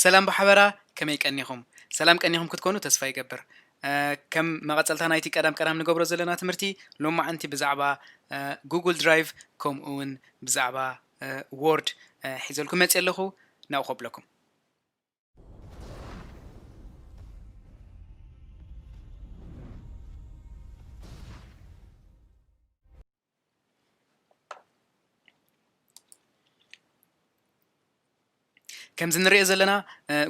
ሰላም ብሓበራ ከመይ ቀኒኹም ሰላም ቀኒኹም ክትኮኑ ተስፋ ይገብር ከም መቐፀልታ ናይቲ ቀዳም ቀዳም ንገብሮ ዘለና ትምህርቲ ሎማዓንቲ ብዛዕባ ጉግል ድራይቭ ከምኡ እውን ብዛዕባ ዎርድ ሒዘልኩም መፅ ኣለኹ ናብኡ ከብለኩም ከምዚ ንሪኦ ዘለና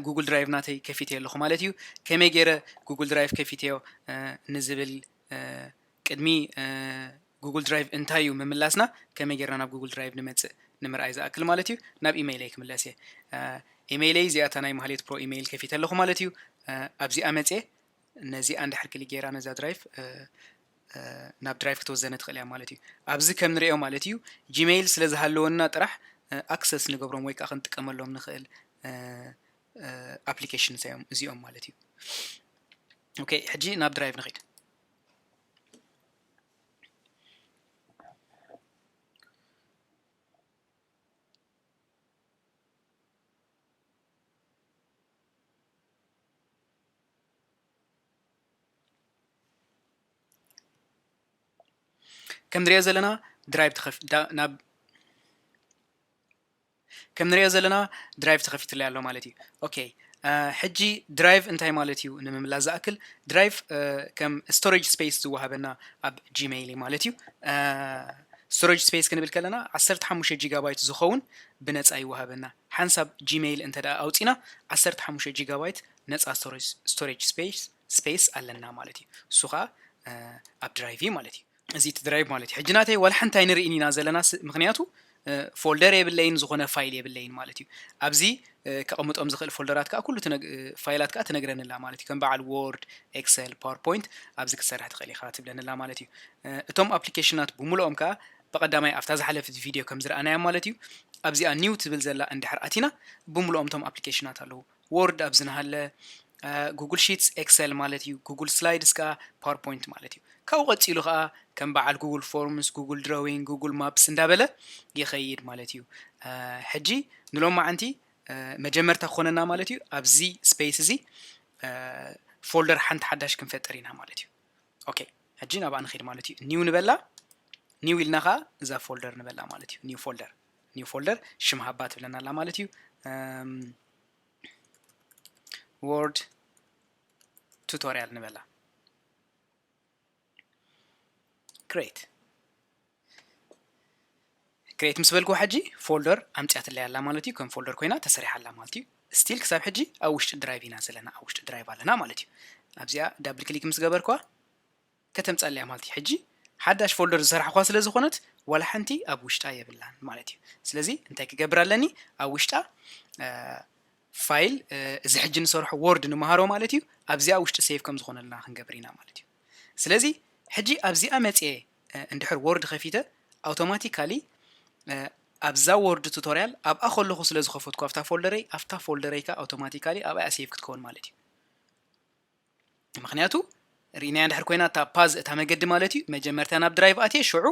ጉግል ድራይቭ ናተይ ከፊተዮ ኣለኹ ማለት እዩ ከመይ ገይረ ጉግል ድራይቭ ከፊተዮ ንዝብል ቅድሚ ጉግል ድራይቭ እንታይ እዩ ምምላስና ከመይ ጌርና ናብ ጉግል ድራይቭ ንመጽእ ንምርኣይ ዝኣክል ማለት እዩ ናብ ኢመይለይ ክምለስ እየ ኢመይለይ እዚኣ እታ ናይ ማህሌት ፕሮ ኢመይል ከፊተ ኣለኹ ማለት እዩ ኣብዚኣ መጽየ ነዚኣ እንድሕር ክሊክ ጌራ ነዛ ድራይቭ ናብ ድራይቭ ክትወዘነ ትኽእል እያ ማለት እዩ ኣብዚ ከም ንሪኦ ማለት እዩ ጂሜይል ስለ ዝሃለወና ጥራሕ ኣክሰስ ንገብሮም ወይ ከዓ ክንጥቀመሎም ንኽእል ኣፕሊኬሽን እዚኦም ማለት እዩ ኦኬ ሕጂ ናብ ድራይቭ ንኽድ ከምንሪኦ ዘለና ድራይቭ ናብ ከም ንሪኦ ዘለና ድራይቭ ተኸፊትለይ ኣሎ ማለት እዩ ኦኬ ሕጂ ድራይቭ እንታይ ማለት እዩ ንምምላስ ዝኣክል ድራይቭ ከም ስቶሬጅ ስፔስ ዝወሃበና ኣብ ጂሜይል እዩ ማለት እዩ ስቶሬጅ ስፔስ ክንብል ከለና 15 ጂጋባይት ዝኸውን ብነፃ ይወሃበና ሓንሳብ ጂሜይል እንተ ደኣ ኣውፂና 15 ጂጋባይት ነፃ ስቶሬጅ ስፔስ ስፔስ ኣለና ማለት እዩ እሱ ከዓ ኣብ ድራይቭ ማለት እዩ እዚ እቲ ድራይቭ ማለት እዩ ሕጂ ናተይ ዋላ ሓንቲ ኣይንርኢን ኢና ዘለና ምክንያቱ ፎልደር የብለይን ዝኾነ ፋይል የብለይን ማለት እዩ ኣብዚ ከቐምጦም ዝኽእል ፎልደራት ከዓ ኩሉ ፋይላት ከዓ ትነግረኒ ኣላ ማለት እዩ ከም በዓል ዎርድ ኤክሰል ፓወርፖይንት ኣብዚ ክትሰርሕ ትኽእል ኢኻ ትብለኒ ኣላ ማለት እዩ እቶም ኣፕሊኬሽናት ብምልኦም ከዓ ብቐዳማይ ኣብታ ዝሓለፍት ቪድዮ ከም ዝረኣናያ ማለት እዩ ኣብዚኣ ኒው ትብል ዘላ እንድሕር ኣቲና ብምልኦም እቶም ኣፕሊኬሽናት ኣለዉ ዎርድ ኣብ ዝንሃለ ጉግል ሺትስ ኤክሰል ማለት እዩ። ጉግል ስላይድስ ከኣ ፓወርፖይንት ማለት እዩ። ካብኡ ቀጺሉ ከኣ ከም በዓል ጉግል ፎርምስ፣ ጉግል ድሮዊንግ፣ ጉግል ማፕስ እንዳበለ ይኸይድ ማለት እዩ። ሕጂ ንሎማዓንቲ መጀመርታ ክኾነና ማለት እዩ ኣብዚ ስፔስ እዚ ፎልደር ሓንቲ ሓዳሽ ክንፈጥር ኢና ማለት እዩ። ኦኬ ሕጂ ናብኣ ንኸይድ ማለት እዩ። ኒው ንበላ ኒው ኢልና ከኣ እዛ ፎልደር ንበላ ማለት እዩ። ኒው ፎልደር ኒው ፎልደር ሽም ሃባ ትብለና ኣላ ማለት እዩ ወርድ ቱቶሪያል ንበላ ግሬት ግሬት ምስ በልኩ ሕጂ ፎልደር ኣምፅያትለይ ኣላ ማለት እዩ ከም ፎልደር ኮይና ተሰሪሓ ኣላ ማለት እዩ ስቲል ክሳብ ሕጂ ኣብ ውሽጢ ድራይቭ ኢና ዘለና ኣብ ውሽጢ ድራይቭ ኣለና ማለት እዩ ኣብዚኣ ዳብል ክሊክ ምስ ገበርኳ ከተምጻኣለያ ማለት እዩ ሕጂ ሓዳሽ ፎልደር ዝሰራሕኩዋ ስለ ዝኮነት ዋላ ሓንቲ ኣብ ውሽጣ የብላን ማለት እዩ ስለዚ እንታይ ክገብር ኣለኒ ኣብ ውሽጣ ፋይል እዚ ሕጂ ንሰርሖ ወርድ ንመሃሮ ማለት እዩ ኣብዚኣ ውሽጢ ሴቭ ከም ዝኾነልና ክንገብር ኢና ማለት እዩ ስለዚ ሕጂ ኣብዚኣ መጽየ እንድሕር ወርድ ከፊተ ኣውቶማቲካሊ ኣብዛ ወርድ ቱቶሪያል ኣብኣ ከለኹ ስለ ዝኸፈትኩ ኣብታ ፎልደረይ ኣብታ ፎልደረይ ከ ኣውቶማቲካሊ ኣብኣ ሴቭ ክትከውን ማለት እዩ ምክንያቱ ርኢናያ እንድሕር ኮይና እታ ፓዝ እታ መገዲ ማለት እዩ መጀመርታ ናብ ድራይቭ ኣትየ ሽዑ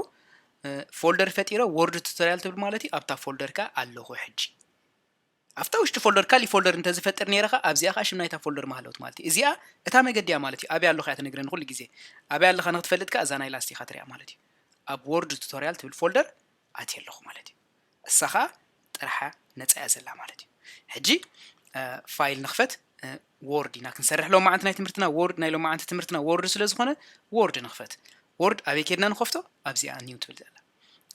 ፎልደር ፈጢረ ወርድ ቱቶሪያል ትብል ማለት እዩ ኣብታ ፎልደር ከ ኣለኹ ሕጂ ኣብታ ውሽጢ ፎልደር ካሊእ ፎልደር እንተዝፈጥር ነይረ ከ ኣብዚኣ ከዓ ሽም ናይታ ፎልደር ማሃለውት ማለት እዩ እዚኣ እታ መገዲ እያ ማለት እዩ ኣብያ ኣለኻ እያ ትነግረ ንኩሉ ግዜ ኣብያ ኣለኻ ንክትፈልጥ ከዓ እዛ ናይ ላስቲካ ትሪያ ማለት እዩ ኣብ ወርድ ቱቶሪያል ትብል ፎልደር ኣትየ ኣለኹ ማለት እዩ እሳ ኸኣ ጥርሓ ነጻ እያ ዘላ ማለት እዩ ሕጂ ፋይል ንኽፈት ዎርድ ኢና ክንሰርሕ ሎም መዓንቲ ናይ ትምህርትና ዎርድ ናይ ሎም መዓንቲ ትምህርትና ዎርድ ስለ ዝኾነ ዎርድ ንኽፈት ዎርድ ኣበይ ኬድና ንኸፍቶ ኣብዚኣ ኒው ትብል ዘላ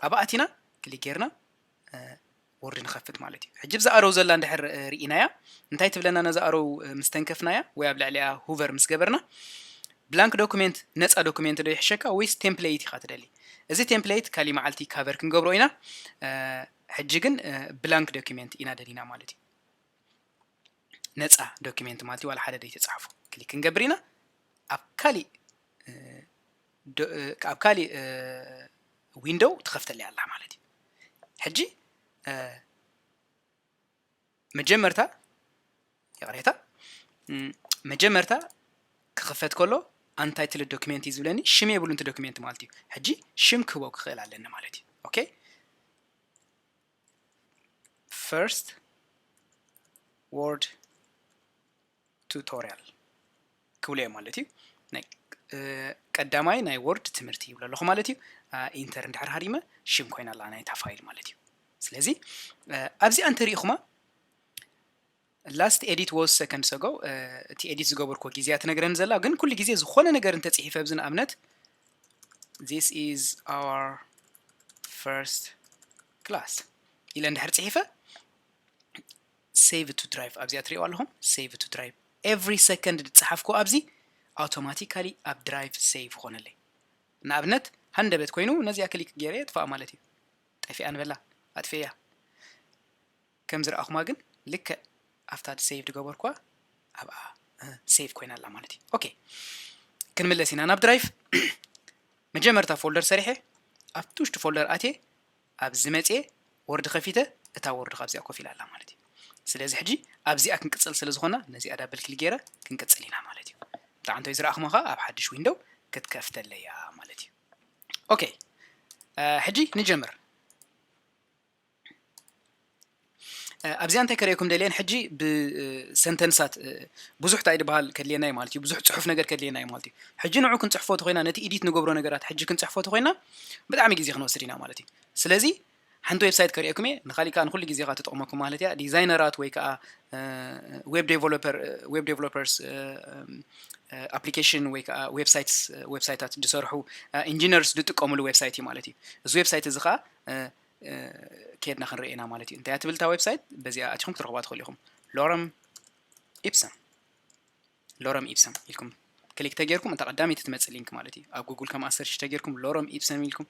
ኣብኣ ኣቲና ክሊክ ጌርና ወርድ ንኸፍት ማለት እዩ ሕጂ ብዛ ኣረው ዘላ እንድሕር ርኢናያ እንታይ ትብለና ነዛ ኣረው ምስ ተንከፍናያ ወይ ኣብ ልዕሊኣ ሁቨር ምስ ገበርና ብላንክ ዶኩሜንት ነፃ ዶኩሜንት ዶ ይሕሸካ ወይስ ቴምፕሌይት ኢኻ ትደሊ እዚ ቴምፕለይት ካሊእ መዓልቲ ካቨር ክንገብሮ ኢና ሕጂ ግን ብላንክ ዶኪመንት ኢና ደሊና ማለት እዩ ነፃ ዶኪመንት ማለት እዩ ዋላ ሓደ ዘይተፃሕፎ ክሊክ ክንገብር ኢና ኣብ ካሊእ ኣብ ካሊእ ዊንዶው ትኸፍተለይ ኣላ ማለት እዩ ሕጂ መጀመርታ ይቕሬታ መጀመርታ ክኽፈት ከሎ ኣንታይ ትል ዶክሜንት እዩ ዝብለኒ ሽም የብሉ ንቲ ዶክሜንት ማለት እዩ ሕጂ ሽም ክህቦ ክኽእል ኣለኒ ማለት እዩ ኦኬ ፈርስት ወርድ ቱቶርያል ክብሉ እዮም ማለት እዩ ናይ ቀዳማይ ናይ ወርድ ትምህርቲ ይብሎ ኣለኹ ማለት እዩ ኢንተር እንድሕር ሃሪመ ሽም ኮይና ኣላ ናይታ ፋይል ማለት እዩ ስለዚ ኣብዚኣ እንተሪኢኹማ ላስት ኤዲት ወስ ሰከንድ ሰጎ እቲ ኤዲት ዝገበርኮ ግዜ እያ ትነግረኒ ዘላ ግን ኩሉ ግዜ ዝኾነ ነገር እንተፅሒፈ ኣብዚ ንኣብነት ዚስ ኢዝ ኣወር ፈርስት ክላስ ኢለ እንድሕር ፅሒፈ ሴቭ ቱ ድራይቭ ኣብዚኣ ትሪእዋ ኣለኹም ሴቭ ቱ ድራይቭ ኤቭሪ ሰከንድ ዝፀሓፍክዎ ኣብዚ ኣውቶማቲካሊ ኣብ ድራይቭ ሴቭ ይኾነለይ ንኣብነት ሃንደበት ኮይኑ ነዚኣ ክሊክ ገይረ የጥፍኣ ማለት እዩ ጠፊኣ ንበላ ኣጥፊኤያ ከም ዝረኣኹማ ግን ልክዕ ኣብታ ሴቭ ዝገበርኩዋ ኣብኣ ሴቭ ኮይና ኣላ ማለት እዩ ኦኬ ክንምለስ ኢና ናብ ድራይቭ መጀመርታ ፎልደር ሰሪሐ ኣብቲ ውሽጢ ፎልደር ኣትየ ኣብዚ መጽየ ወርዲ ከፊተ እታ ወርዲ ካብዚኣ ኮፍ ኢላ ኣላ ማለት እዩ ስለዚ ሕጂ ኣብዚኣ ክንቅጽል ስለ ዝኾና ነዚኣ ዳብል ክሊክ ጌረ ክንቅጽል ኢና ማለት እዩ እንተ ዓንተይ ዝረኣኹማ ከኣ ኣብ ሓድሽ ዊንዶው ክትከፍተለይ እያ ማለት እዩ ኦኬ ሕጂ ንጀምር ኣብዚኣ እንታይ ከርእየኩም ደልየ ሕጂ ብሰንተንሳት ብዙሕ እንታይ ድበሃል ከድልየና እዩ ማለት እዩ ብዙሕ ፅሑፍ ነገር ከድልየና እዩ ማለት እዩ ሕጂ ንዑ ክንፅሕፎ ተኮይና ነቲ ኢዲት ንገብሮ ነገራት ሕጂ ክንፅሕፎ ተኮይና ብጣዕሚ ግዜ ክንወስድ ኢና ማለት እዩ ስለዚ ሓንቲ ዌብሳይት ከርእየኩም እየ ንካሊእ ከዓ ንኩሉ ግዜ ከዓ ትጠቕመኩም ማለት እያ ዲዛይነራት ወይ ከዓ ዌብ ዴቨሎፐር ዌብ ዴቨሎፐርስ ኣፕሊኬሽን ወይ ከዓ ዌብሳይትስ ዌብሳይታት ዝሰርሑ ኢንጂነርስ ዝጥቀምሉ ዌብሳይት እዩ ማለት እዩ እዚ ዌብሳይት እዚ ከዓ ኬድና ክንርኢ ኢና ማለት እዩ እንታይ ትብል እታ ዌብሳይት በዚኣ ኣቲኹም ክትረኽባ ትኽእሉ ኢኹም ሎረም ኢፕሰም ሎረም ኢፕሰም ኢልኩም ክሊክ ተጌርኩም እታ ቀዳመይቲ ትመፅእ ሊንክ ማለት እዩ ኣብ ጉግል ከምኣ ሰርች ተጌርኩም ሎረም ኢፕሰም ኢልኩም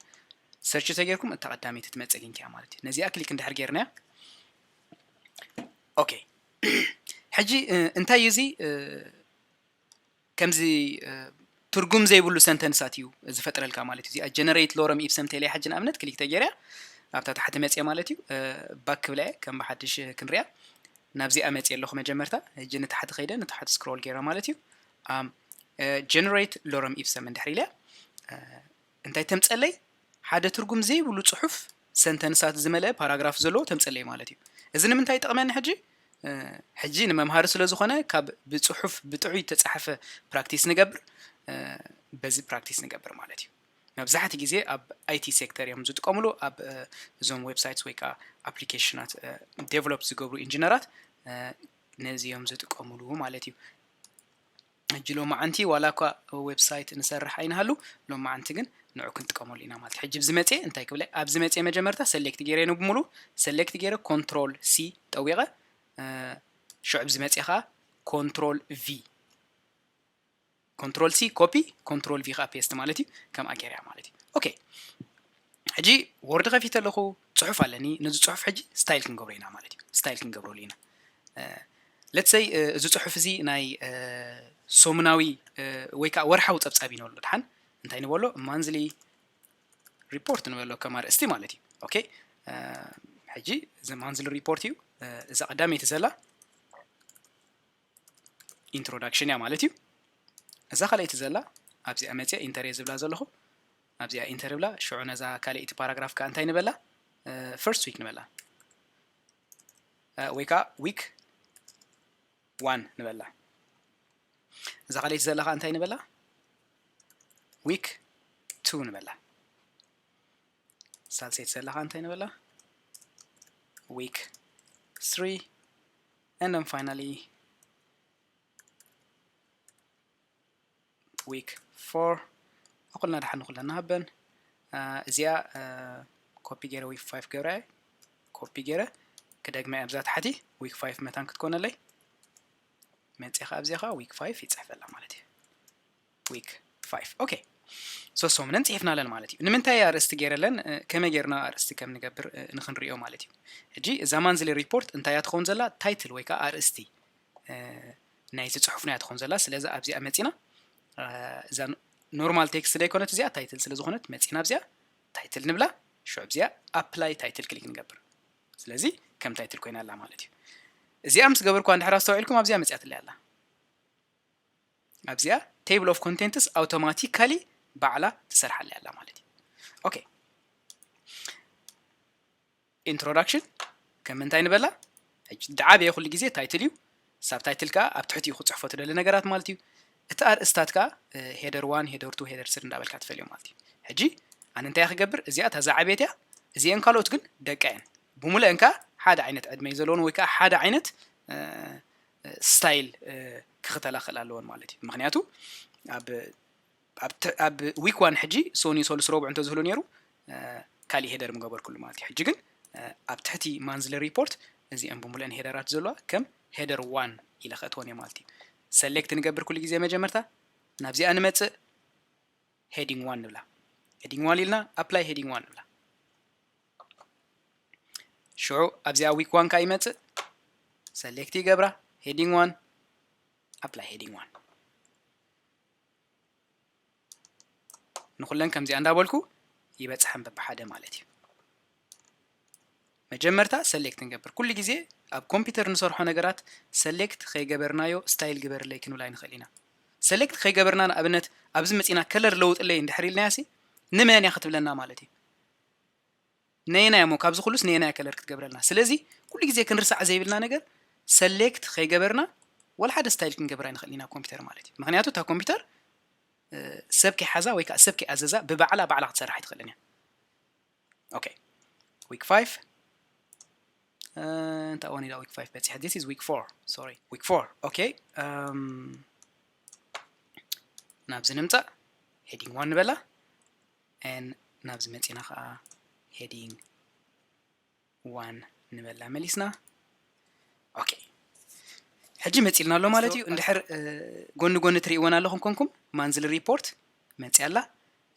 ሰርች ተጌርኩም እታ ቀዳመይቲ ትመፅእ ሊንክ እያ ማለት እዩ ነዚኣ ክሊክ እንድሕር ጌርናያ ኦኬ ሕጂ እንታይ እዩ እዚ ከምዚ ትርጉም ዘይብሉ ሰንተንሳት እዩ ዝፈጥረልካ ማለት እዩ እዚኣ ጀነሬት ሎረም ኢፕሰም ቴሌ ሓጂ ንኣብነት ክሊክ ተጌርያ ኣብታ ታሕቲ መፅየ ማለት እዩ ባክ ክብላ እየ ከም ብሓድሽ ክንሪያ ናብዚኣ መፅየ ኣለኹ መጀመርታ እጂ ንታሕቲ ከይደ ንታሕቲ ስክሮል ገይረ ማለት እዩ ጀነሬት ሎረም ኢፕሰም እንድሕር ኢለ እንታይ ተምጸለይ? ሓደ ትርጉም ዘይብሉ ጽሑፍ፣ ሰንተንሳት ዝመልአ ፓራግራፍ ዘለዎ ተምጸለይ ማለት እዩ። እዚ ንምንታይ ይጠቕመኒ ሕጂ? ሕጂ ንመምሃሪ ስለ ዝኾነ ካብ ብጽሑፍ ብጥዑይ እተጻሕፈ ፕራክቲስ ንገብር፣ በዚ ፕራክቲስ ንገብር ማለት እዩ። መብዛሕትኡ ግዜ ኣብ ኣይቲ ሴክተር እዮም ዝጥቀምሉ ኣብ እዞም ዌብሳይትስ ወይ ከዓ ኣፕሊኬሽናት ዴቨሎፕ ዝገብሩ ኢንጂነራት ነዚ እዮም ዝጥቀምሉ ማለት እዩ ሕጂ ሎማዓንቲ ዋላ እኳ ዌብሳይት ንሰርሕ ኣይንሃሉ ሎማዓንቲ ግን ንዑ ክንጥቀመሉ ኢና ማለት ሕጂ ብዝመጽየ እንታይ ክብለ ኣብ ዝመጽየ መጀመርታ ሰሌክት ገይረ ን ብምሉኡ ሰሌክት ገይረ ኮንትሮል ሲ ጠዊቐ ሽዑ ብ ዝመጽየ ከዓ ኮንትሮል ቪ ኮንትሮል ሲ ኮፒ ኮንትሮል ቪ ከዓ ፔስት ማለት እዩ ከምኣ ገይረያ ማለት እዩ ኦኬ ሕጂ ዎርድ ከፊተ ኣለኹ ጽሑፍ ኣለኒ ነዚ ጽሑፍ ሕጂ ስታይል ክንገብሮ ኢና ማለት እዩ ስታይል ክንገብረሉ ኢና ለትሰይ እዚ ጽሑፍ እዚ ናይ ሶሙናዊ ወይ ከዓ ወርሓዊ ፀብፃብ እዩ ንበሎ ድሓን እንታይ ንበሎ ማንዝሊ ሪፖርት ንበሎ ከም ኣርእስቲ ማለት እዩ ኦኬ ሕጂ እዚ ማንዝሊ ሪፖርት እዩ እዛ ቀዳመይቲ ዘላ ኢንትሮዳክሽን እያ ማለት እዩ እዛ ካልኣይቲ ዘላ ኣብዚኣ መፅአ ኢንተር እየ ዝብላ ዘለኹ ኣብዚኣ ኢንተር ብላ ሽዑ ነዛ ካልኣይቲ ፓራግራፍ ከዓ እንታይ ንበላ ፈርስት ዊክ ንበላ ወይ ከዓ ዊክ ዋን ንበላ እዛ ካልኣይቲ ዘላ ከዓ እንታይ ንበላ ዊክ ቱ ንበላ ሳልሰይቲ ዘላ ከዓ እንታይ ንበላ ዊክ ስሪ and then finally week 4 ኣኩልና ድሓን ንኩለና ሃበን እዚኣ ኮፒ ገይረ ዊክ 5 ገብረ ኮፒ ገይረ ክደግመ ኣብዛ ታሕቲ ዊክ 5 መታን ክትኮነለይ መፅኻ ኣብዚኻ ዊክ 5 ይፅሕፈላ ማለት እዩ week 5 ኦኬ ሶስት ሰሙነን ጽሒፍናለን ማለት እዩ ንምንታይ ኣርእስቲ ገይረለን ከመይ ገይርና ኣርእስቲ ከም ንገብር ንክንሪዮ ማለት እዩ ሕጂ እዛ ማንዝሊ ሪፖርት እንታይ እያ ትኸውን ዘላ ታይትል ወይ ከዓ ኣርእስቲ ናይቲ ፅሑፍና እያ ትኸውን ዘላ ስለዚ ኣብዚኣ መፂና እዛ ኖርማል ቴክስት ዘይኮነት እዚኣ ታይትል ስለ ዝኾነት መፂና ኣብዚኣ ታይትል ንብላ ሽዑ ኣብዚኣ ኣፕላይ ታይትል ክሊክ ንገብር ስለዚ ከም ታይትል ኮይና ኣላ ማለት እዩ እዚኣ ምስ ገበርኳ እንድሕር ኣስተውዒልኩም ኣብዚኣ መፅያትለይ ኣላ ኣብዚኣ table of contents ኣውቶማቲካሊ ባዕላ ትሰርሓለይ ኣላ ማለት እዩ ኦኬ ኢንትሮዳክሽን ከም እንታይ ንበላ ሕጂ ድዓበየ ኩሉ ግዜ ታይትል እዩ ሳብ ታይትል ከዓ ኣብ ትሕቲኡ ክፅሕፎ ትደሊ ነገራት ማለት እዩ እቲ ኣርእስታት ከዓ ሄደር ዋን ሄደር ቱ ሄደር ስር እንዳበልካ ትፈልዮ ማለት እዩ ሕጂ ኣነ እንታይ ክገብር እዚኣ እታ ዝዓበየት እያ እዚአን ካልኦት ግን ደቂ እየን ብሙሉአን ከዓ ሓደ ዓይነት ዕድመ እዩ ዘለዎን ወይ ከዓ ሓደ ዓይነት ስታይል ክኽተላ ክኽእል ኣለዎን ማለት እዩ ምክንያቱ ኣብ ዊክ ዋን ሕጂ ሶኒ ሶሉስ ረቡዕ እንተዝህሉ ነይሩ ካሊእ ሄደር ምገበርኩሉ ማለት እዩ ሕጂ ግን ኣብ ትሕቲ ማንዝሊ ሪፖርት እዚኦም ብምሉእን ሄደራት ዘለዋ ከም ሄደር ዋን ኢለ ከእትወን እየ ማለት እዩ ሰሌክት ንገብር ኩሉ ግዜ መጀመርታ ናብዚኣ ንመፅእ ሄዲንግ ዋን ንብላ ሄዲንግ ዋን ኢልና ኣፕላይ ሄዲንግ ዋን ንብላ ሽዑ ኣብዚኣ ዊክ ዋን ካኣ ይመጽእ ሰሌክት ይገብራ ሄዲንግ ዋን ኣፕላይ ሄዲንግ ዋን ንኩለን ከምዚኣ እንዳበልኩ ይበጽሐን በብሓደ ማለት እዩ መጀመርታ ሰሌክት ንገብር ኩሉ ግዜ ኣብ ኮምፒውተር ንሰርሖ ነገራት ሰሌክት ከይገበርናዮ ስታይል ግበርለይ ክንብል ኣይንኽእል ኢና ሰሌክት ከይገበርና ንኣብነት ኣብዚ መፂና ከለር ለውጥለይ እንድሕር ኢልናያሲ ንመን እያ ክትብለና ማለት እዩ ነየናይ እሞ ካብዚ ኩሉስ ነየናይ ከለር ክትገብረልና ስለዚ ኩሉ ግዜ ክንርሳዕ ዘይብልና ነገር ሰሌክት ከይገበርና ወላ ሓደ ስታይል ክንገብር ኣይንኽእል ኢና ኮምፒውተር ማለት እዩ ምክንያቱ እታ ኮምፒውተር ሰብ ከይሓዛ ወይ ከዓ ሰብ ከይኣዘዛ ብባዕላ ባዕላ ክትሰርሕ ኣይትኽእልን እያ ኦኬ ዊክ ፋይቭ እንታይ ኦን ኢላ ዊክ ፋይቭ በፂሐ ዲስ ኢዝ ዊክ ፎር ሶሪ ዊክ ፎር ኦኬ ናብዚ ንምፃእ ሄዲንግ ዋን ንበላ and ናብዚ መጺና ከኣ heading one ንበላ መሊስና ኦኬ ሕጂ መጺልና ኣሎ ማለት እዩ እንድሕር ጎኒ ጎኒ ትርእይወን ኣለኹም ኮንኩም ማንዝሊ ሪፖርት መጺ ኣላ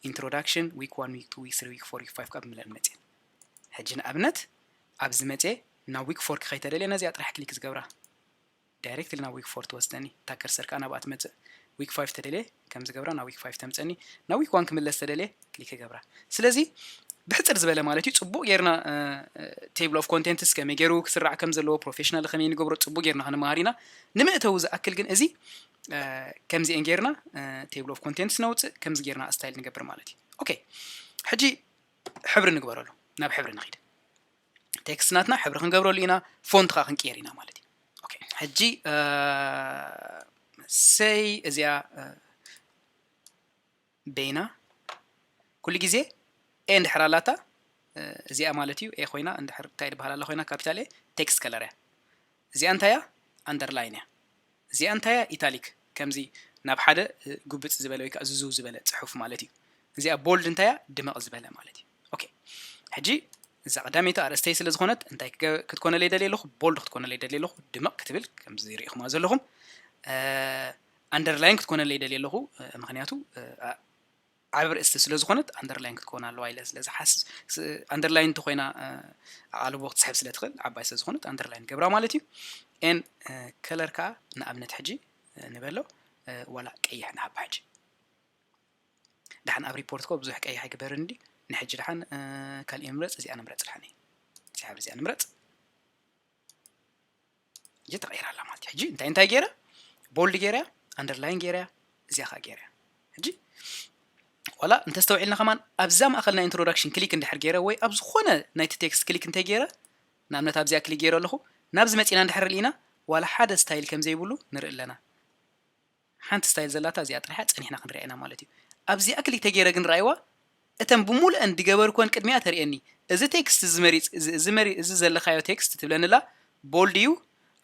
ኢንትሮዳክሽን ዊክ ዋን ዊክ ቱ ዊክ ስሪ ዊክ ፎር ዊክ ፋይቭ ካብ ምለን መጽን ሕጂ ንኣብነት ኣብዚ መጽ ናብ ዊክ ፎር ክኸይተደልየ ነዚኣ ጥራሕ ክሊክ ዝገብራ ዳይሬክት ኢለ ናብ ዊክ ፎር ትወስደኒ እታ ከርሰርካ ናብኣ ትመጽእ ዊክ ፋይፍ ተደልየ ከምዚ ገብራ ናብ ዊክ ፋይፍ ተምጸኒ ናብ ዊክ ዋን ክምለስ ተደልየ ክሊክ ክገብራ ስለዚ ብሕጽር ዝበለ ማለት እዩ ጽቡቅ ጌርና ቴብል ኦፍ ኮንቴንትስ ከመይ ጌሩ ክስራዕ ከም ዘለዎ ፕሮፌሽናል ከመይ ንገብሮ ጽቡቅ ጌርና ክንመሃር ኢና ንምእተዊ ዝኣክል ግን እዚ ከምዚኤን ጌርና ቴብል ኦፍ ኮንቴንትስ ነውጽእ ከምዚ ጌርና ስታይል ንገብር ማለት እዩ ኦኬ ሕጂ ሕብሪ ንግበረሉ ናብ ሕብሪ ንኺድ ቴክስት ናትና ሕብሪ ክንገብረሉ ኢና ፎንት ከዓ ክንቅየር ኢና ማለት እዩ ኦኬ ሕጂ ሰይ እዚኣ ቤና ኩሉ ግዜ ኤ እንድሕር ኣላታ እዚኣ ማለት እዩ ኤ ኮይና እንድሕር እንታይ ድበሃል ኣላ ኮይና ካፒታል ኤ ቴክስት ከለር እያ እዚኣ እንታይ እያ ኣንደርላይን እያ እዚኣ እንታይ እያ ኢታሊክ ከምዚ ናብ ሓደ ጉብጽ ዝበለ ወይ ከኣ ዝዝው ዝበለ ጽሑፍ ማለት እዩ እዚኣ ቦልድ እንታይ እያ ድምቕ ዝበለ ማለት እዩ ኦኬ ሕጂ እዛ ቀዳመይቲ ኣርእስተይ ስለ ዝኾነት እንታይ ክትኮነለይ ደልየ ኣለኹ ቦልድ ክትኮነለይ ደልየ ኣለኹ ድምቕ ክትብል ከምዚ ርኢኹማ ዘለኹም ኣንደርላይን ክትኮነለይ ደልየ ኣለኹ ምክንያቱ ዓቢ ኣርእስቲ ስለ ዝኾነት ኣንደርላይን ክትከውን ኣለዋ ኢለ ስለ ዝሓስብ ኣንደርላይን እንተኾይና ኣቓልቦ ክትስሕብ ስለ ትኽእል ዓባይ ስለ ዝኾነት ኣንደርላይን ገብራ ማለት እዩ ኤን ከለር ከዓ ንኣብነት ሕጂ ንበሎ ዋላ ቀይሕ ንሃባ ሕጂ ድሓን ኣብ ሪፖርት ኮ ብዙሕ ቀይሕ ኣይግበርን እንዲ ንሕጂ ድሓን ካልእ ንምረፅ እዚኣ ንምረፅ ድሓን እዚኣ እዚኣ ንምረፅ እየ ተቐይራ ኣላ ማለት እያ ሕጂ እንታይ እንታይ ገይረ ቦልድ ገይረያ ኣንደርላይን ገይረያ እዚኣ ከዓ ገይረያ ሕጂ ዋላ እንተስተውዒልና ከማን ኣብዛ ማእኸል ናይ ኢንትሮዳክሽን ክሊክ እንድሕር ገይረ ወይ ኣብ ዝኾነ ናይቲ ቴክስት ክሊክ እንተይ ገይረ ንኣብነት ኣብዚኣ ክሊክ ገይረ ኣለኹ ናብዚ መፂና እንድሕር ርኢና ዋላ ሓደ ስታይል ከም ዘይብሉ ንርኢ ኣለና ሓንቲ ስታይል ዘላታ እዚኣ ጥራሕ'ያ ጸኒሕና ክንሪኣ ኢና ማለት እዩ። ኣብዚኣ ክልተ ጌረ ግን ርኣይዋ እተን ብሙሉኤን ድገበርኩወን ቅድሚኣ ተርእየኒ እዚ ቴክስት እዚ መሪጽ እዚ መሪ እዚ ዘለካዮ ቴክስት ትብለኒ ኣላ ቦልድ እዩ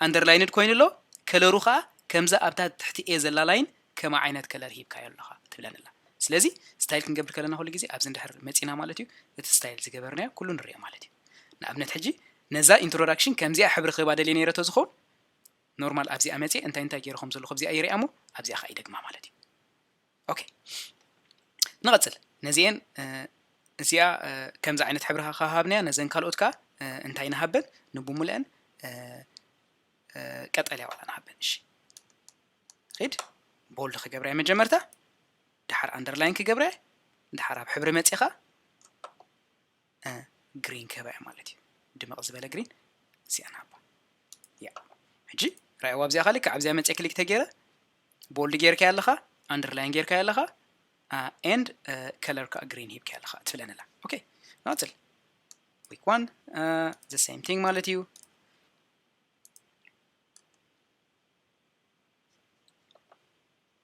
ኣንደርላይንድ ኮይኑ ኣሎ ከለሩ ከኣ ከምዛ ኣብታ ትሕቲ ኤ ዘላ ላይን ከማ ዓይነት ከለር ሂብካዮ ኣለኻ ትብለኒ ኣላ ስለዚ ስታይል ክንገብር ከለና ኩሉ ግዜ ኣብዚ እንድሕር መጺና ማለት እዩ እቲ ስታይል ዝገበርናዮ ኩሉ ንሪኦ ማለት እዩ ንኣብነት ሕጂ ነዛ ኢንትሮዳክሽን ከምዚኣ ሕብሪ ክህባ ደልየ ነይረ ተዝኸውን ኖርማል ኣብዚኣ መጽየ እንታይ እንታይ ገይረ ከም ዘለኹ ኣብዚኣ ይርኣ እሞ ኣብዚኣ ከዓ ይደግማ ማለት እዩ ኦኬ ንቐጽል ነዚኤን እዚኣ ከምዚ ዓይነት ሕብሪ ካሃብናያ ነዘን ካልኦት ከዓ እንታይ ንሃበን ንብሙልአን ቀጠልያ ዋላ ንሃበን እሺ ሪድ ቦልድ ክገብረያ መጀመርታ ድሓር ኣንደርላይን ክገብረያ ድሓር ኣብ ሕብሪ መፂኻ ግሪን ከበዐ ማለት እዩ ድምቕ ዝበለ ግሪን እዚኣ ንሃባ ያ ሕጂ ራይዋ ኣብዚኣ ካልካ ኣብዚኣ መፅእ ክሊክ ተገይረ ቦልድ ጌርካያ ኣለኻ ኣንደርላይን ጌርካያ ኣለኻ ኤንድ ከለር ከዓ ግሪን ሂብካያ ኣለኻ ትብለንላ ኦኬ ናፅል ዊክ ዋን ዘ ሴም ቲንግ ማለት እዩ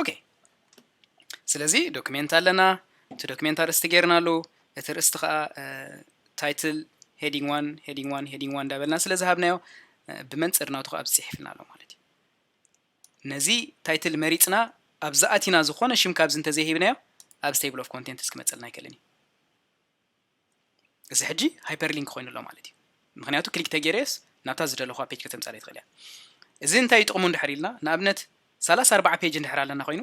ኦኬ ስለዚ ዶክሜንት ኣለና እቲ ዶክሜንት ኣርእስቲ ጌርና ኣሉ እቲ ርእስቲ ከዓ ታይትል ሄዲንግ ዋን ሄዲንግ ዋን ሄዲንግ ዋን እንዳበልና ስለ ዝሃብናዮ ብመንፅር ናቱ ከዓ ኣብዚ ፅሒፍና ኣሎ ማለት እዩ ነዚ ታይትል መሪፅና ኣብዚ ኣቲና ዝኾነ ሽም ካብዚ እንተዘይሂብናዮ ኣብዚ ቴብል ኦፍ ኮንቴንትስ ክመፀልና ኣይክእልን እዩ እዚ ሕጂ ሃይፐር ሊንክ ኮይኑ ኣሎ ማለት እዩ ምክንያቱ ክሊክ ተጌረየስ ናብታ ዝደለኹዋ ፔጅ ከተምጻለይ ትኽእል እያ እዚ እንታይ ጥቕሙ እንድሕር ኢልና ንኣብነት ሰላሳ ኣርባዓ ፔጅ እንድሕር ኣለና ኮይኑ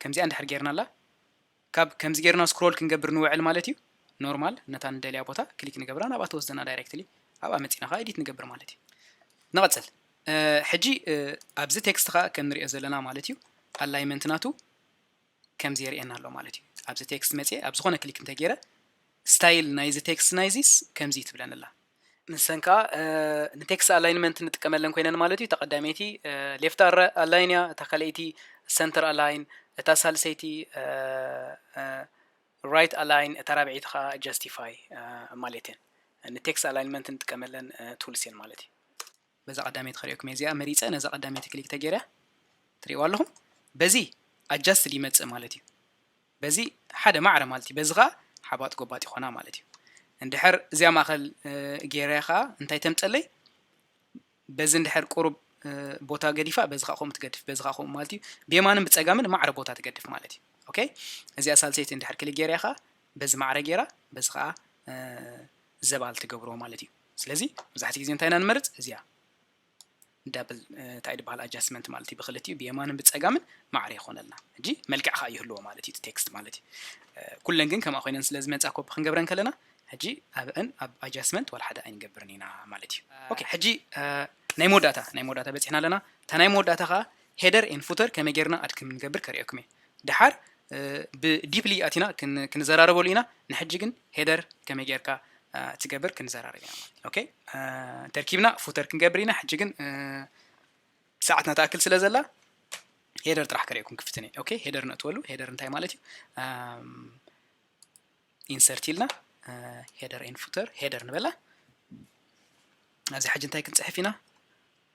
ከምዚኣ እንድሕር ጌርናላ ካብ ከምዚ ጌርና ስክሮል ክንገብር ንውዕል ማለት እዩ ኖርማል ነታ ንደልያ ቦታ ክሊክ ንገብራ ናብኣ ተወስደና ዳይሬክትሊ ኣብኣ መፂና ከዓ ኤዲት ንገብር ማለት እዩ ንቐፅል ሕጂ ኣብዚ ቴክስት ከዓ ከም ንሪኦ ዘለና ማለት እዩ ኣላይመንት ናቱ ከምዚ የርእየና ኣሎ ማለት እዩ። ኣብዚ ቴክስት መጺኤ ኣብ ዝኾነ ክሊክ እንተ ጌረ ስታይል ናይዚ ቴክስት ናይዚስ ከምዚ እዩ ትብለኒ ኣላ። ንሰን ከኣ ንቴክስት ኣላይንመንት ንጥቀመለን ኮይነን ማለት እዩ። እታ ቀዳመይቲ ሌፍት ኣላይን እያ፣ እታ ካልኣይቲ ሰንተር ኣላይን፣ እታ ሳልሰይቲ ራይት ኣላይን፣ እታ ራብዐይቲ ከኣ ጃስቲፋይ ማለት እየን። ንቴክስት ኣላይንመንት ንጥቀመለን ቱልስ እየን ማለት እዩ። በዛ ቀዳመይቲ ከርእየኩም እየ እዚኣ መሪፀ ነዛ ቀዳመይቲ ክሊክ ተገይረ ትሪእዋ ኣለኹም በዚ ኣጃስት ይመፅእ ማለት እዩ በዚ ሓደ ማዕረ ማለት እዩ በዚ ከዓ ሓባጥ ጎባጥ ይኾና ማለት እዩ እንድሕር እዚኣ ማእኸል ገይረ ከዓ እንታይ ተምፀለይ በዚ እንድሕር ቁሩብ ቦታ ገዲፋ በዚ ከዓ ከምኡ ትገድፍ በዚ ከዓ ከምኡ ማለት እዩ ብየማንን ብፀጋምን ማዕረ ቦታ ትገድፍ ማለት እዩ ኦኬ እዚኣ ሳልሰይቲ እንድሕር ክሊ ገይረ ከዓ በዚ ማዕረ ገይራ በዚ ከዓ ዘባል ትገብሮ ማለት እዩ ስለዚ መብዛሕትኡ ግዜ እንታይ ኢና ንመርፅ እዚኣ ዳብል እንታይ ድበሃል ኣጃስትመንት ማለት እዩ ብክልቲኡ ብየማንን ብፀጋምን ማዕረ ይኮነልና እጂ መልክዕ ከዓ ይህልዎ ማለት እዩ ቴክስት ማለት እዩ ኩለን ግን ከምኣ ኮይነን ስለ ዝመፃ ኮፒ ክንገብረን ከለና ሕጂ ኣብዕን ኣብ ኣጃስትመንት ዋላ ሓደ ኣይንገብርን ኢና ማለት እዩ ኦኬ ሕጂ ናይ መወዳእታ ናይ መወዳእታ በፂሕና ኣለና እታ ናይ መወዳእታ ከዓ ሄደር ኤን ፉተር ከመይ ጌርና ኣድ ክም ንገብር ከርእየኩም እየ ደሓር ብ ዲፕሊ ኣቲና ክንዘራረበሉ ኢና ንሕጂ ግን ሄደር ከመይ ጌርካ ትገብር ክንዘራረብ ኢና ኦኬ ተርኪብና ፉተር ክንገብር ኢና ሕጂ ግን ሰዓትና ትኣክል ስለ ዘላ ሄደር ጥራሕ ከርእየኩም ክፍትን እየ ኦኬ ሄደር ነእትወሉ ሄደር እንታይ ማለት እዩ ኢንሰርት ኢልና ሄደር ኤን ፉተር ሄደር ንበላ ኣብዚ ሕጂ እንታይ ክንፅሕፍ ኢና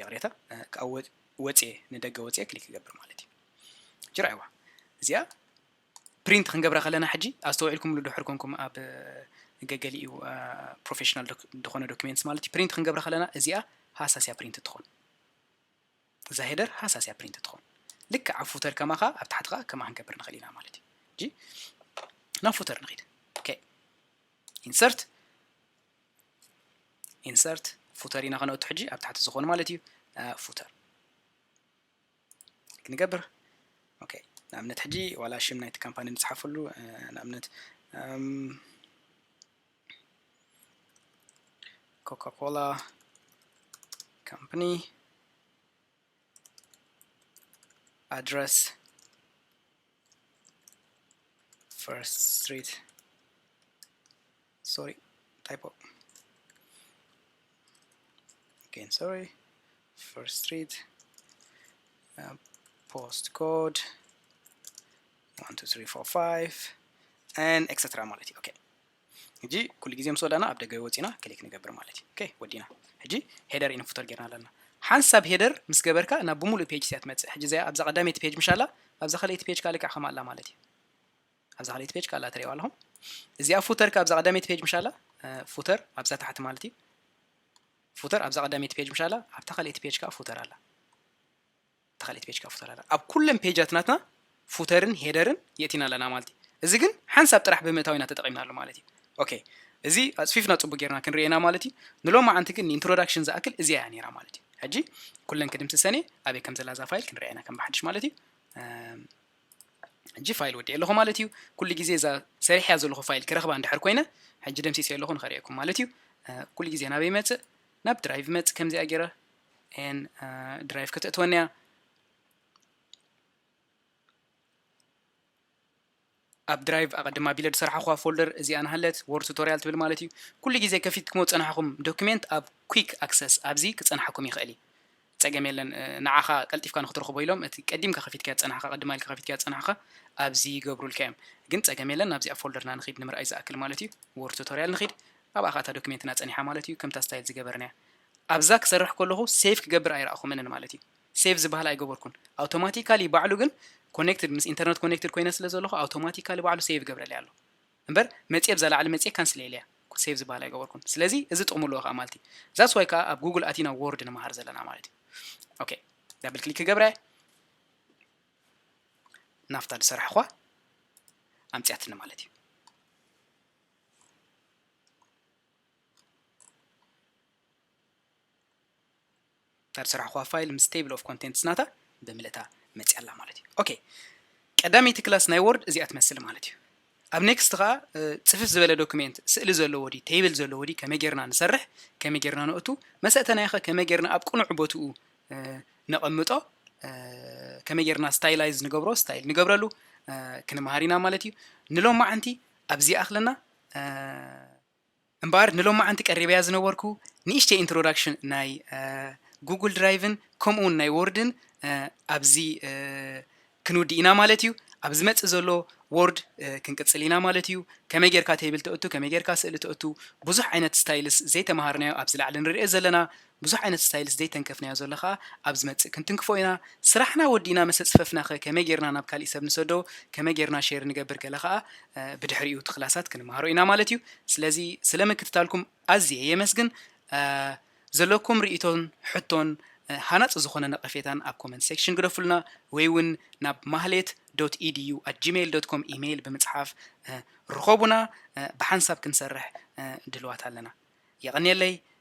ይቕሬታ ካብ ወፅየ ንደገ ወፅየ ክሊክ ክገብር ማለት እዩ ጅራይዋ እዚኣ ፕሪንት ክንገብራ ከለና ሕጂ ኣስተውዒልኩምሉ ድሕር ኮንኩም ኣብ ገገሊኡ ፕሮፌሽናል ዝኾነ ዶኪሜንትስ ማለት እዩ ፕሪንት ክንገብራ ከለና እዚኣ ሃሳስያ ፕሪንት ትኾን እዛ ሄደር ሃሳስያ ፕሪንት ትኾን ልክዕ ኣብ ፉተር ከማኻ ኣብ ታሕቲ ከዓ ከማ ክንገብር ንኽእል ኢና ማለት እዩ ናብ ፉተር ንኽድ ኢንሰርት ኢንሰርት ፉተር ኢና ከነእቱ ሕጂ ኣብ ታሕቲ ዝኾኑ ማለት እዩ ፉተር ክንገብር ኦኬ ንኣብነት ሕጂ ዋላ ሽም ናይቲ ካምፓኒ ንፅሓፈሉ ንኣብነት ኮካኮላ ካምፓኒ ኣድረስ ፈርስት ስትሪት sorry typo again sorry first street uh, postcode 12345 and etc ማለት እዩ ኦኬ ሕጂ ኩሉ ግዜ ምስ ወዳና ኣብ ደገ ወፂና ክሊክ ንገብር ማለት እዩ ኦኬ ወዲና ሕጂ ሄደር ኢና ፉተር ጌርና ኣለና ሓንሳብ ሄደር ምስ ገበርካ ናብ ብምሉእ ፔጅ ስያ ትመፅእ ሕጂ እዚኣ ኣብዛ ቀዳመይቲ ፔጅ ምሻላ ኣብዛ ካልኣይቲ ፔጅ ካልክዕ ከም ኣላ ማለት እዩ ኣብዛ ካልኣይቲ ፔጅ ካላ ትሪእዋ ኣለኹም እዚኣ ፉተር ካብዛ ቀዳመይቲ ፔጅ ምሻላ ፉተር ኣብዛ ታሕቲ ማለት እዩ ፉተር ኣብዛ ቀዳመይቲ ፔጅ ምሻላ ኣብታ ካልኣይቲ ፔጅ ከዓ ፉተር ኣላ ኣብታ ካልኣይቲ ፔጅ ከዓ ፉተር ኣላ ኣብ ኩለን ፔጃት ናትና ፉተርን ሄደርን የእቲና ኣለና ማለት እዩ እዚ ግን ሓንሳብ ጥራሕ ብምእታው ኢና ተጠቂምናሉ ማለት እዩ ኦኬ እዚ ኣፅፊፍና ፅቡቅ ጌርና ክንርኤና ማለት እዩ ንሎም መዓንቲ ግን ንኢንትሮዳክሽን ዝኣክል እዚኣ እያ ነይራ ማለት እዩ ሕጂ ኩለን ክድምስሰን እየ ኣበይ ከም ዘላ እዛ ፋይል ክንርኤና ከም ብሓድሽ ማለት እዩ ሕጂ ፋይል ወዲኤ ኣለኹ ማለት እዩ ኩሉ ግዜ እዛ ሰሪሐያ ዘለኹ ፋይል ክረኽባ እንድሕር ኮይነ ሕጂ ደምሲሰዮ ኣለኹ ንኸርእየኩም ማለት እዩ ኩሉ ግዜ ናበይ ይመጽእ ናብ ድራይቭ ይመጽእ ከምዚኣ ገይረ ኤን ድራይቭ ከተእትወኒ እያ ኣብ ድራይቭ ኣቐድማ ቢለ ዝሰራሕኹ ፎልደር እዚኣ ንሃለት ወርድ ቱቶሪያል ትብል ማለት እዩ ኩሉ ግዜ ከፊትኩሞ ዝፀናሕኹም ዶክሜንት ኣብ ኩክ ኣክሰስ ኣብዚ ክፀናሓኩም ይኽእል እዩ ጸገም የለን ንዓኻ ቀልጢፍካ ንክትረኽቦ ኢሎም እቲ ቀዲምካ ከፊትካዮ ዝጸናሕካ ቅድማ ኢልካ ከፊትካዮ ዝጸናሕካ ኣብዚ ይገብሩልካ እዮም ግን ጸገም የለን ናብዚኣ ፎልደርና ንኺድ ንምርኣይ ዝኣክል ማለት እዩ word tutorial ንኺድ ኣብኣ ከኣ እታ ዶክሜንትና ጸኒሓ ማለት እዩ ከምታ ስታይል ዝገበርናያ ኣብዛ ክሰርሕ ከለኹ ሴቭ ክገብር ኣይረኣኹምንን ማለት እዩ ሴቭ ዝበሃል ኣይገበርኩን ኣውቶማቲካሊ ባዕሉ ግን ኮኔክትድ ምስ ኢንተርነት ኮኔክትድ ኮይነ ስለ ዘለኹ ኣውቶማቲካሊ ባዕሉ ሴቭ ይገብረለይ ኣሎ እምበር መጽየ ብዛ ላዕሊ መጽየ ካንስል ኢለያ እኮ ሴቭ ዝባሃል ኣይገበርኩን ስለዚ እዚ ጥቅሚ ኣለዎ ከኣ ማልት እዩ ዛትስ ዋይ ከኣ ኣብ ጉጉል ኣቲና ዎርድ ንመሃር ዘለና ማለት እዩ ኦኬ ዳብል ክሊክ ክገብራ እየ ናፍታ ዝሰራሕኳ ኣምጽያትኒ ማለት እዩ እታ ዝሰራሕኹዋ ፋይል ምስ Table of Contents ናታ ብምልእታ መጺኣ ኣላ ማለት እዩ። ኦኬ ቀዳመይቲ ክላስ ናይ Word እዚኣ ትመስል ማለት እዩ። ኣብ Next ከኣ ጽፍፍ ዝበለ ዶክሜንት ስእሊ ዘለዎ ድዩ Table ዘለዎ ድዩ ከመይ ጌርና ንሰርሕ ከመይ ጌርና ነእቱ መሰእተናዮኸ ከመይ ጌርና ኣብ ቅኑዕ ቦትኡ ነቐምጦ ከመይ ጌርና ስታይላይዝ ንገብሮ ስታይል ንገብረሉ ክንምሃር ኢና ማለት እዩ። ንሎማዓንቲ ኣብዚ ይኣኽለና። እምበኣር ንሎማዓንቲ ቀሪበያ ዝነበርኩ ንእሽተይ ኢንትሮዳክሽን ናይ ጉጉል ድራይቭን ከምኡ ውን ናይ ዎርድን ኣብዚ ክንውድእ ኢና ማለት እዩ ኣብ ዝመጽእ ዘሎ ዎርድ ክንቅጽል ኢና ማለት እዩ ከመይ ጌርካ ተይብል ተእቱ ከመይ ጌርካ ስእሊ ተእቱ ብዙሕ ዓይነት ስታይልስ ዘይተማሃርናዮ ኣብዚ ላዕሊ ንሪኦ ዘለና ብዙሕ ዓይነት ስታይልስ ዘይተንከፍናዮ ዘሎ ከኣ ኣብ ዝመጽእ ክንትንክፎ ኢና። ስራሕና ወዲእና መሰ ጽፈፍና ከ ከመይ ጌርና ናብ ካሊእ ሰብ ንሰዶ ከመይ ጌርና ሼር ንገብር ገለ ከኣ ብድሕሪኡ እቲ ክላሳት ክንመሃሮ ኢና ማለት እዩ። ስለዚ ስለ ምክትታልኩም ኣዝየ የመስግን። ዘለኩም ሪኢቶን ሕቶን ሃናጺ ዝኮነ ነቀፌታን ኣብ ኮመንት ሴክሽን ግደፉልና ወይ ውን ናብ ማህሌት ዶት ኢድዩ ኣት ጂመይል ዶት ኮም ኢመይል ብምጽሓፍ ርኮቡና ብሓንሳብ ክንሰርሕ ድልዋት ኣለና። የቀንየለይ